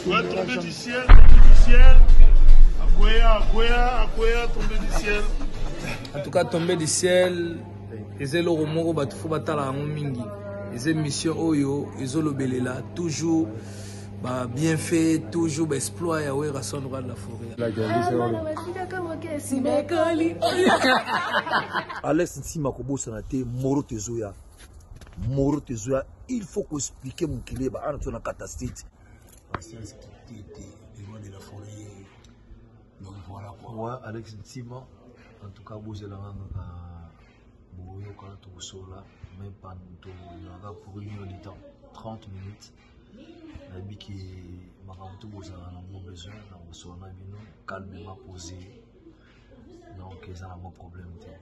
Ouais, tombé du ciel, tombé du ciel. Akwea, Akwea, Akwea, tombé du ciel. En tout cas, tombé du ciel. eza eloko moko bato fo batala yango mingi eza émission oyo ezolobelela toujours ba bienfait toujours ba exploit ya werrason roi de la forêt alex nsima kobosana te moro tezoya moro tezoya il faut ko expliquer mokili ba ana tona kata state patience kitete le roi de la forêt donc voilà quoi ouais Alex Ntima en tout cas bozela nganga ka boyoka tokosola mais pan tozalaka pour une heure de temps 30 minutes nayebi ke makambo to bozala nango besoin na kosola na bino calmement posé donc eza na mwa problème te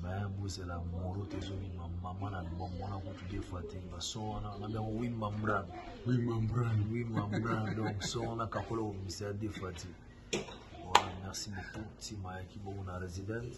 me bozela moro te ezobima mama na bamona kutu de fois te baso wana nabi yango wi mambran wi mambran wi mambran donc so wana kakola kobimisa ya de fois te voilà merci beaucoup ntima yaki bongo na résidence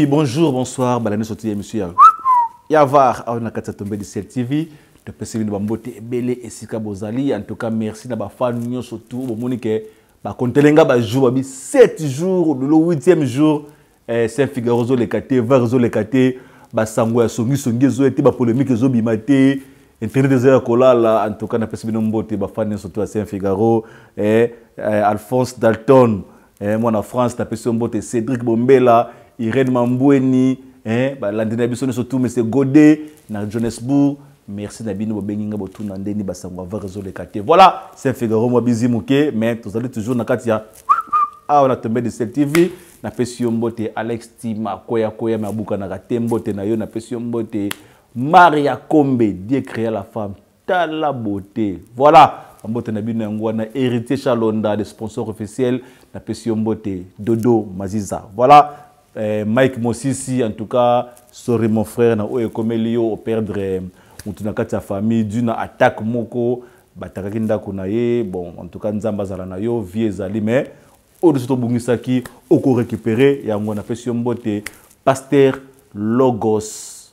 Oui, bonjour, bonsoir, balani soti émission ya ya var awa na kati ya tombe du ciel tv topesi bino bambote ebele esika bozali en tout cas merci na bafan nyonso tu bomoni ke bakontele nga bajour babi 7 jour lelo 8e jour eh, saint figaro ezoleka te var ezoleka te basango ya songisongi ezoya te bapolémike ezobima te internet eza ya kolala en tout cas napesi bino mbote bafan nyonso tu ya saint figaro eh, eh, alphonse dalton eh, mwana france napesi yo mbote cédric bombela irene mambweni eh, balandi na biso nyonso tu mese gode na johannesbourg merci na bino bobengi nga botuna ndeni basango avar ezoleka te voilà saint figaro mwa bizi moke mais tozali toujours na kati ya awa na tombe de sel tv napesi yo mbote alex tima koya koya me abukanaka te mbote na yo napesi yo mbote maria kombe dieu créa la femme tala beauté voilà mbote na bino yango wana héritier chalonda le sponsor officiel napesi yo mbote dodo maziza voilà eh, mike mosisi en tout cas sorry mon frère na oyo ekomeli yo operdre eh, motu na kati ya famille du na attaque moko batakaki ndako na ye bon en tout cas nzambe azala na yo vie ezali mais oyo nyonso tobungisaki okorécupere yango napesi yo mbote paster logos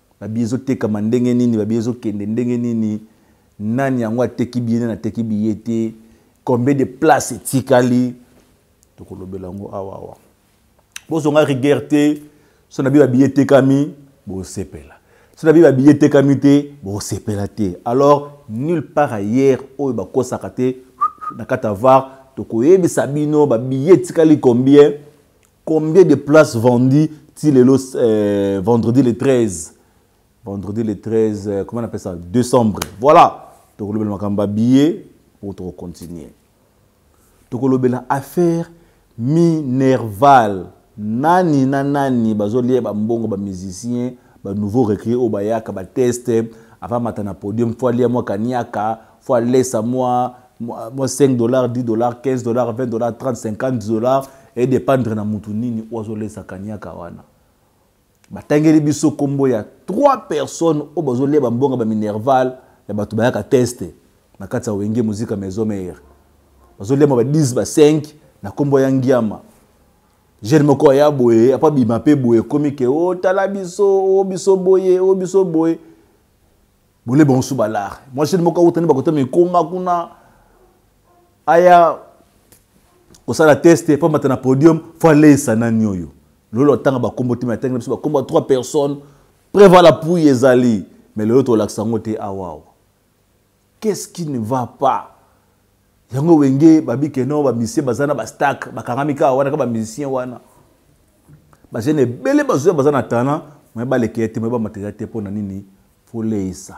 Babi ezo tekama ndenge nini babi ezo kende ndenge nini nani yango ateki biye nani ateki biye te combien de place etikali tokolobela yango awa awa bozonga rigueur te so na biye babiye etekami bosepela so na biye babiye etekami te bosepela te alors nulle part ailleurs oyo bakosaka te na kati ya var tokoyebisa bino babiye etikali combien Combien de places vendues ti lelo euh, vendredi le 13 vendredi le 13 euh, comment on appelle ça décembre voilà tokolobela makambo ya billet mpo tokocontinue tokolobela affaire minerval nani na nani bazolia bambongo bamusicien banouveau recrue oyo bayaka bateste avamata na podium fo alia mwa kaniaka fo alesa mwa moi 5 dollars 10 dollars 15 dollars 20 dollars 30 50 dollars edépendre na mutu nini oyo azolesa kaniaka wana batangeli biso nkombo ya 3 personnes oyo bazolia bambonga baminerval ya bato bayaka teste na kati ya wenge muzika maison mare bazoliama ba 10 ba 5 na nkombo ya ngiama jeune moko aya boye apa bima mpe boye ekomi ke otala oh, biso o oh, biso boye o oh, biso boye bole bango so balare mwasi ni moko awutani bakotama ekoma kuna aya kosala teste mpo amata na podium fo aleisa nani oyo lolo atanga bakombo te me atangi na biso bakombo ya trois personnes preva la pui ezali me lelo tolakisa yango te awawa qu'est ce qui ne va pas yango wenge babi ke non bamusicien baza na bastack bakangami kaka wana kaka bamusicien wana bajeune ebele bazoya baza na talent mai balekeye te mai bamateria te mpo na nini foleisa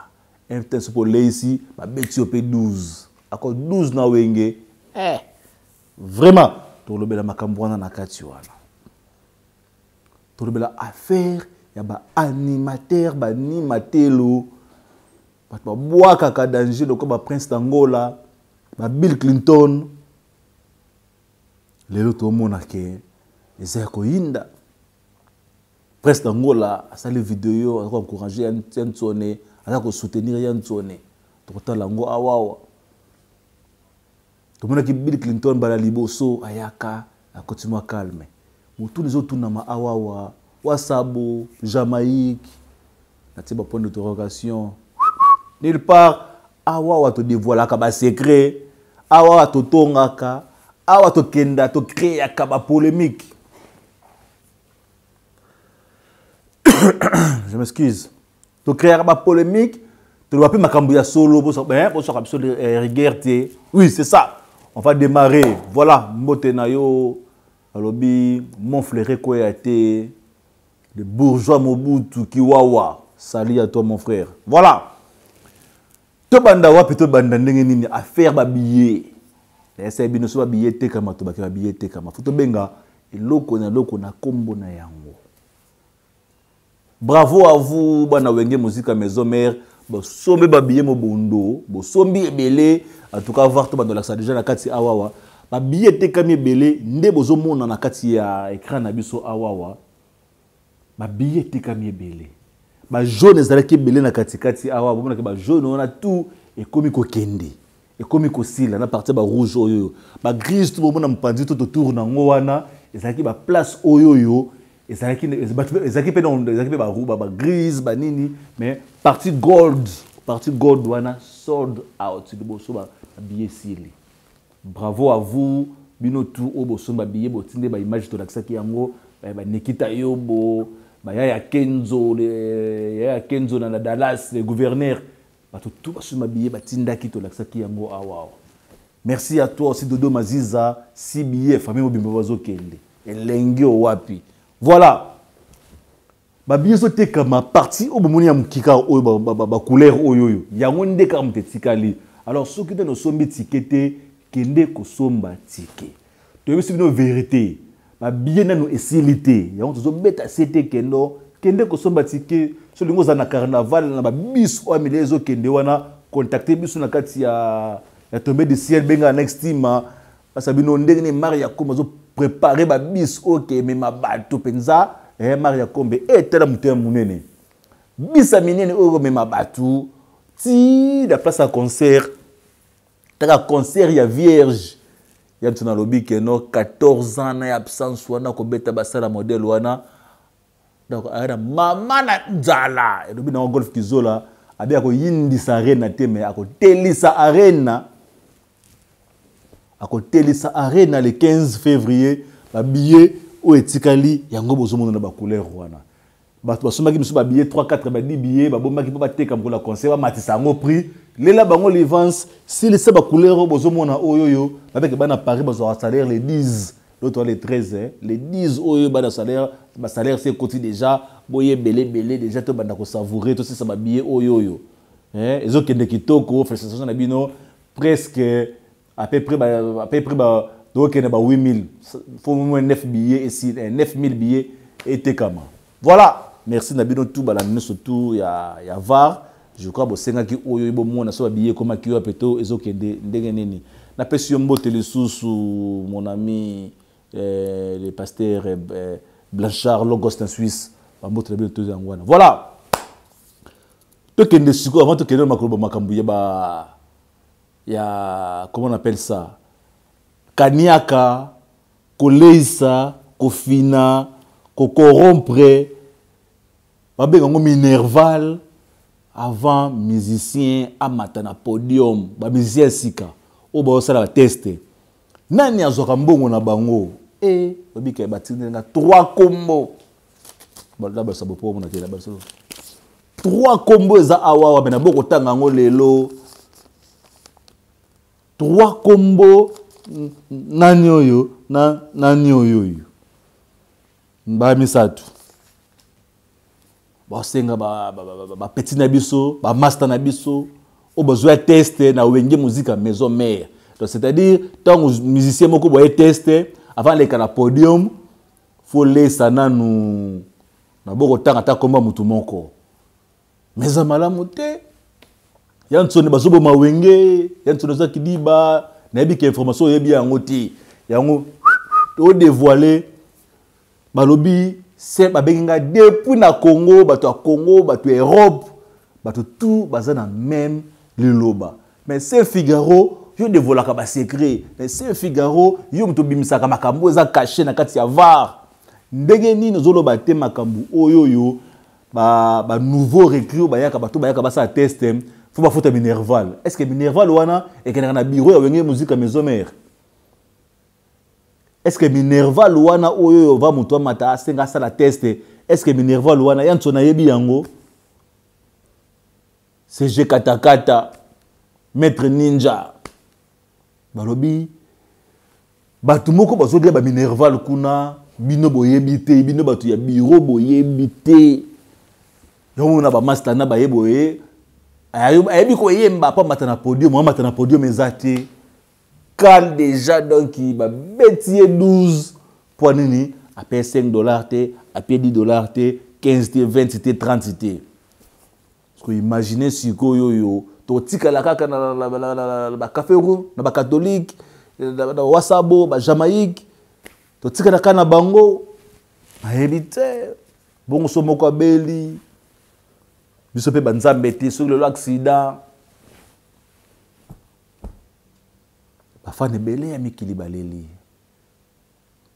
mtn soki oleisi babeti yo mpe 12 ako 12 na wenge eh, vraiment tolobela makambo wana na kati wana tolobela affaire ya baanimateur baanimatelo bato babwakaka danger lokola baprince d'angola babill clinton lelo tomona ke eza ya koyinda prince d'angola asali video aza koencourage ya ntsone aza kosoutenir ya ntsone tokotala yango awawa tomonaki bill clinton mbala liboso ayaka akoti mwa calme motuna ezotunama awawa wasabo jamaïque natie bapoint d'interrogation nulle part awawa todevoilaka basecret awawa totongaka awa tokenda tokreaka bapolémique je m'excuse To créer ba polemique, to ba pe makambo ya solo bo so eh bo so ka biso eh, rigueur te. Oui, c'est ça. On va démarrer. Voilà, mbote na yo alobi mon frère ko ya te le bourgeois Mobutu Kiwawa. Salut à toi mon frère. Voilà. To banda wapi to banda ndenge nini affaire ba billets. Ese bino so ba billets te kama to ba billets te kama. Faut to benga eloko na eloko na kombo na yango. Bravo à vous bana wenge musica maison mère bosombi babiye mobondo bosombi ebele en tout cas var tobanda olakisa déjà na kati awawa babiye etekami ebele nde bozomona na kati ya écran na biso awawa babiye etekami ebele bajaune ezalaki ebele na katikati awa bomonaki bajaune wana tout ekomi kokende ekomi kosila na parti ya barouge oyo oyo bagrise to bomona mopanzi to totour na yango wana ezalaki baplace oyo oyo ezalaki mpe ezalaki mpe baruba bagrise banini mais parti gold parti gold wana sold out liboso babiye esili bravo à vous bino tu oyo bosombi babiye botinde baimage tolakisaki yango eh, banikita yobo baya ya kenzo ya ya kenzo na la dallas le gouverneur bato to basusu mabiye batindaki tolakisaki yango awa merci à toi aussi dodo maziza cba famille mobimba bazokende elengi owapi voilà babiye ezotekama parti oyo bomoni ya mokika oyo bacouleur oyo oyo yango nde kaka moto etikali alors soki nde nosombi tike te kende kosomba tike toyebisi bino verite babiye nano esili te yango tozobeta sete kendo kende kosomba tike so olingi ozala na carnaval na babis oyo amile ezokende wana contacte biso na kati ya, ya tombe de ciel benga next team ah. basa bino ndenge nini mari ya kombe azoprepare babis oyo kemema bato mpenza eh, mari ya kombe etala eh, moto ya monene bisa minene oyo komema bato ti na place ya concert taka concert ya vierge ya biso nalobi keno 14 ans na ya absence wana kobeta basala modele wana donc aya na mama na nzala elobi nango golf kizola abi akoyindisa arena te me akotelisa arena akotelisa arena le 15 février babillet oyo etikali yango bozomona na bacouleur wana bato basombaki mosusu babiye 34 badi biye babombaki mpo bateka mokolo ya conseil bamatisa yango prix lela bango livance silisa bacouleur oyo bozomona oyo oyo babeke bana paris bazwaka salaire le 10 l'autre le 13 eh. le 10 oyo bana salaire basalaire se ekoti déjà boye ebeleebele déjà tobanda kosavoure tosisa babiye oyo oyo eh. ezokende kitoko félicitation na bino presque à peu près à peu près ba tokende ba 8000 faut moins 9 billets et si 9000 eh, billets et tekama voilà merci na bino tout bala nyoso tout ya ya var je crois bosengaki oyo ebomona so babiye ekomaki wape to ezokende ndenge nini napesi yo mbote lisusu mon ami eh, le pasteur eh, eh blanchard logos na suisse bambote na bino toza yango wana voilà tokende sikoyo avant tokende makoloba makambo ya ba ya comment on appelle ça kaniaka koleisa kofina kokorompre babenga yango minerval avant musicien amata na podium bamusicien ya sika oyo baosala bateste nani azwaka mbongo na bango e eh, babika batindeli nga trois kombo balabasa bopo omona te labasa trois kombo eza awawa me na bo kotanga yango lelo trois kombo nani oyo na nani oyo oyo mbaa misato basenga bapeti na biso bamasta na biso oyo bazwa ya teste na wenge muzika maison mare donc c'est-à-dire ntango musicien moko boye teste avant aleka na podium faut lesa nanu na boko tanga ta komba mutu moko mais za malamu te ya nsoni bazoboma wenge ya nsoni oza kidiba nayebi ke information oyebi yango te yango todevoile balobi se babengi ngai depuis na congo bato ya congo bato ya europe bato tout baza na meme liloba Mais c'est Figaro yo devolaka ba secret mais c'est Figaro yo moto bimisaka makambo eza caché na kati ya var ndenge nini ozoloba te makambo oyo oyo ba, ba nouveau recrue oyo bayaka bato bayaka basala test fo bafuta minerval est ce que minerval wana ekendaka na bureau ya wenge musique ya maison mare est ce que minerval wana oyo oyo va moto amata asenga asala test est ce que minerval wana ya nso nayebi yango CG Katakata, Maître Ninja, balobi bato moko bazolia baminerval kuna bino boyebi te bino bato ya biro boyebi te yango na bamastana baye boye ayebi koyemba mpo amata na podium amata na podium eza te kal déjà donc babeti ye 12 mpo nini ape 5 dollar te ape 10 dollar te 15 te 20 te 30 te Siko imagine sikoyo oyo totikala kaka na bacafe room na bakatholike na wasabo bajamaïque totikala kaka na bango nayebi te bongo so moko abeli biso mpe banzambe te soki lelo aksida bafana ebele ya mikili baleli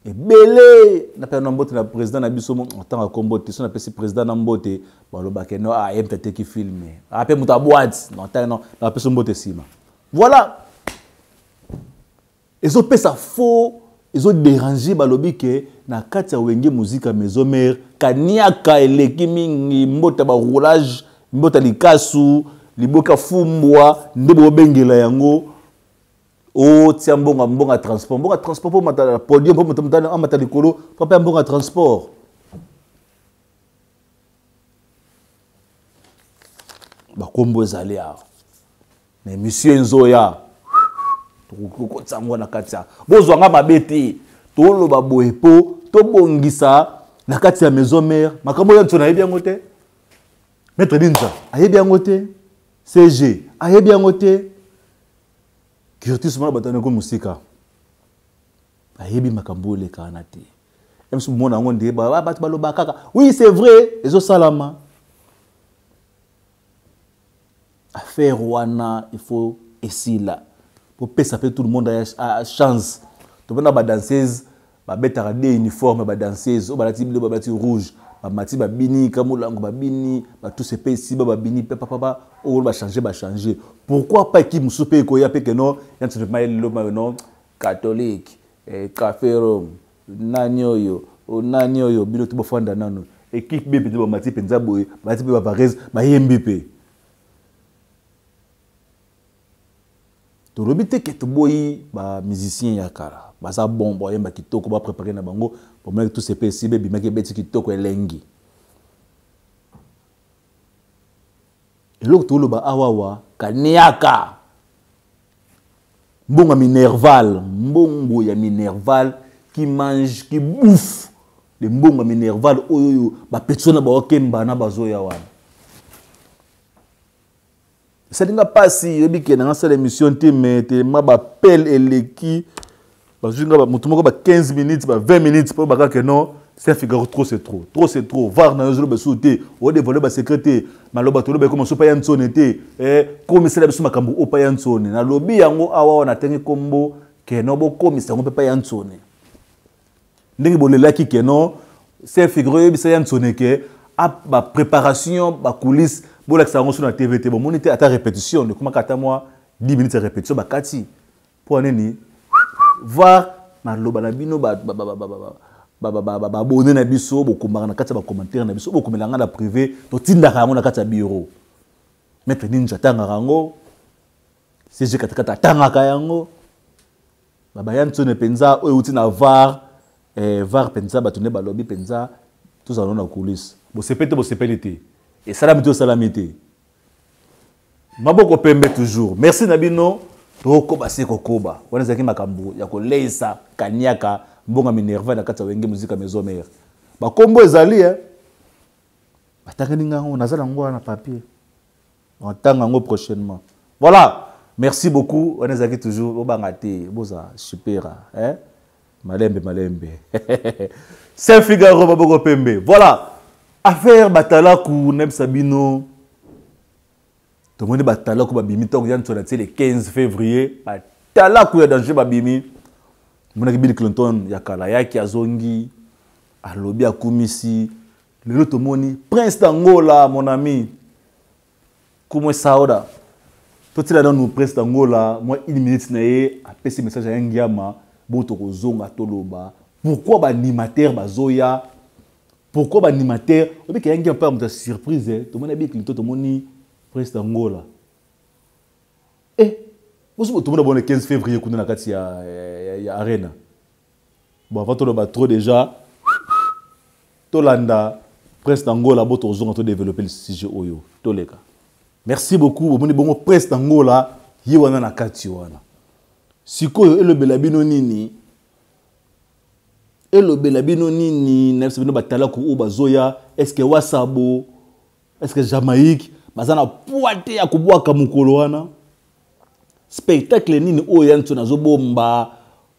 ebele napena na mbote na président na biso ntango ya kombo te so napesi président na mbote balobake no aye ah, moto ateki filme ape ah, moto abwati napesi mbote nsima voilà ezopesa faux ezoderange balobi ke na kati ya wenge muzika maison mare kaniaka eleki mingi mbota baroulage mbota likasu liboka fumbwa nde bobengela yango otia mbongo ya mbongo ya transport mbongo ya transport mpo matala podium mpo moto motali amata likolo mpo mpe ya mbongo ya transport bakombo ezali awa na emission enzoya tokokotisa yango na kati ya bozwa nga mabe te toloba boye mpo tobongisa na kati ya maison mare makambo oyo nso nayebi yango te maître binza ayebi yango te cg ayebi yango te curtis mwana batani ko mosika ayebi makambo oleka wana te msu mona yango nde bato baloba kaka oui c'est vrai ezosalama affaire wana il faut esila popesa mpe tout le monde a chance topena badanseuse babetaka de uniforme ba danseuse oyo balati biloba balati rouge bamati babini kamulango babini batuse mpe esiba babini mpe papapa oyo bachange bachange pourquoi pas ekipe mosusu mpe ekoya mpe keno yantinepema eleloma yo non catholique eh, caferom nani oyo oh, nani oyo bino te bofanda nano ekipe be mpenza bamati mpenza boye balati mpe bavarese bayembi mpe tolobi te ke toboyi ba musicien ya kala baza bon boyemba kitoko baprepare na bango bomaki tous epe esibe ebimaki ebeti kitoko elengi eloko toloba awawa kaniaka mbongo ya minerval mbongo ya minerval qui mange qui bouffe de mbongo ya minerval oyo oyo bapetiso na baokemba na bazoya wana esali nga mpasi oyebi ke nanga sala émission te mais telema bapele eleki bazwi nga motu moko ba 15 minutes ba 20 minutes mpo bakaka ke non c'est figaro trop c'est trop trop c'est trop var na yo ozoloba esusu te odevoile basecret te maloba toloba ekoma so paya nsone te eh, komisela biso makambo o paya nsone nalobi yango awa wana atenge nkombo keno bokomisa yango mpe paya nsone ndenge bolelaki ke non se figure oyebisa ya nsone ke bapreparation bacoulisse bolakisa yango so na tv te bomoni te ata répétition ekomaka ata mwa 10 minutes ya répétition bakati mpo nini voir maloba na bino babone na biso bokomaka na kati ya bacommentaire na biso bokomela ngai na privé totindaka yango na kati ya bureau maître ninja atangaka yango cg katikati atangaka yango baba ya nsone mpenza oyo euti na var eh, var mpenza bato nde balobi mpenza tozala no na kulise bosepeli te bosepeli te esalami te osalami te maboko pembe toujours merci na bino tokoba se kokoba wana ezalaki makambo ya koleisa kaniaka mbonga minerva na kati ya wenge muzika maison mare bakombo ezali e eh. batangani ngango naza nango wana na papier na tanga ngo prochainement voilà merci beaucoup wana ezalaki toujours bobanga te boza supera eh? malembe malembe saint figaro maboko pembe voilà affaire batalaku nayebisa bino tomoni batalaku babimi ntango ya nso na tie le 15 février batalaku ya danger babimi monaki bill clinton ya kala yaki azongi alobi akumisi lelo tomoni prince d'angola mon ami como é sauda totiela nanu prince d'angola mwa une minute na ye apesi message ya ngiama bo tokozonga toloba pourquoi baanimateur bazoya pourquoi baanimateur obike ya ngiama mpe ya moto ya surprise eh? tomoni abikili to tomoni prince d'angola e eh, bosi botomona bona 15 février kuna na kati ya, ya, ya arena Bon, avant tout le bas trop déjà, Tolanda, presse d'Angola, bon, on a développé le sujet Oyo, Toleka. Merci beaucoup, au bon presse d'Angola, Yiwana na Katiwana. Sikoyo, le belabino nini, le belabino nini, n'a pas de talent ou bazoya, est-ce que Wasabo, est-ce que Jamaïque, bazana poite ya kubwa kamukolo wana. spectacle nini oyo ya nso nazobomba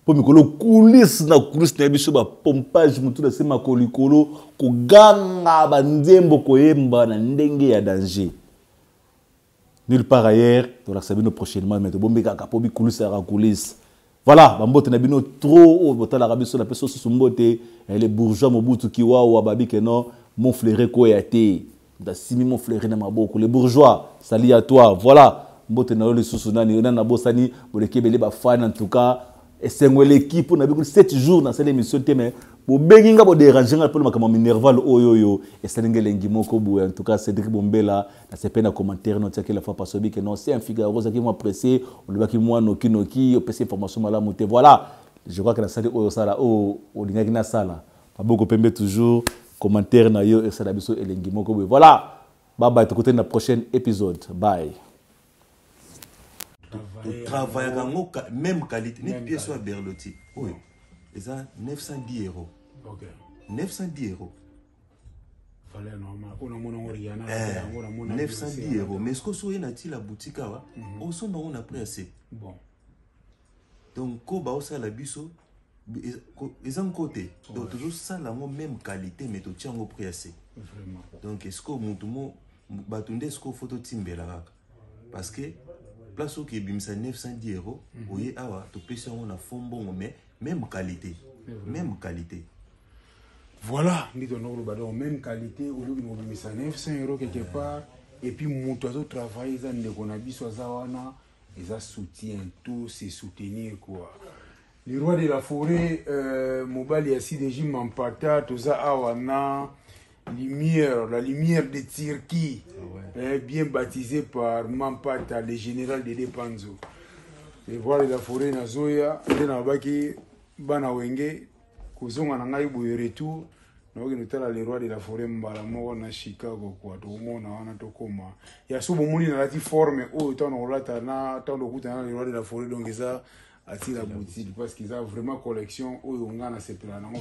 mpo mikolo kulise na kulise na ye biso bapompage motu na se makolo likolo koganga banzembo koyemba na ndenge ya danger nulle part ailleurs tolakisa bino prochainement me tobombi kaka mpo bikulisaka kulise Voilà, ba mbote na bino trop oyo botalaka biso na peso susu mbote eh, les bourgeois Mobutu Kiwawa babi que non mon flairé ko ya te. Nda simi mon flairé na maboko les bourgeois sali à toi. Voilà, mbote na yo lisusu nani nani na bosani boleki ebele ba fan en tout cas esengo eleki mpo na biko 7 jours nasali émission te mais bobengi nga boderange nga mpo na makambo minerval oyo oyo esali nga elengi moko boye en tout cas cédrik bombela nasepeli na commentaire no otiaki la fois passe obi ke non c'est un figaro ozalaki mwa presse olobaki mwa noki noki opesi information malamu te voilà je crois que nasali oyo osala oyo olingaki nasala maboko pembe toujours commentaire na yo esala biso elengi moko boye voilà babaye tokutani na prochaine épisode bye travaillaka yango même qualité neti pièce oyo ya berloti oyo eza 910 euros 910 euros valeur normale oyo namona yango riana eh, yango namona 910 euro mais sikoyo soki oye na ti la boutique awa mhm. osomba yango na prix ya se bon donc ko baosala biso eza nko te donc tozosala yango même qualité mais totya yango prix ya se donc esikoyo motu mo bato nde esikoyo fo totimbela kaka parce que place oyo ebimisa 910 euros mm -hmm. oye awa topesi yango na fond mbongo mais même qualité même qualité voilà nde tolanda koloba donc même qualité ozoki kobimisa 900 euros quelque part et puis moto azotravaille eza ndeko na biso aza wana eza soutien to se soutenir quoi le roi de la forêt euh, mobali ya cdg mampata toza awa na Lumière, la lumière de Turquie, ah ouais. eh, bien baptisé par Mampata, le général de Depanzo. Et voilà la forêt na Zoya, nde nabaki bana wenge kozonga na ngai boye retour nakoki notala le roi de la forêt mbala moko na chicago kua tokomona wana tokoma ya so bomoni nalati forme oyo ntango nakolata na ntango tokutana na le roi de la forêt donc eza atila boutique parce que eza vraiment collection oyo nga nasepela nango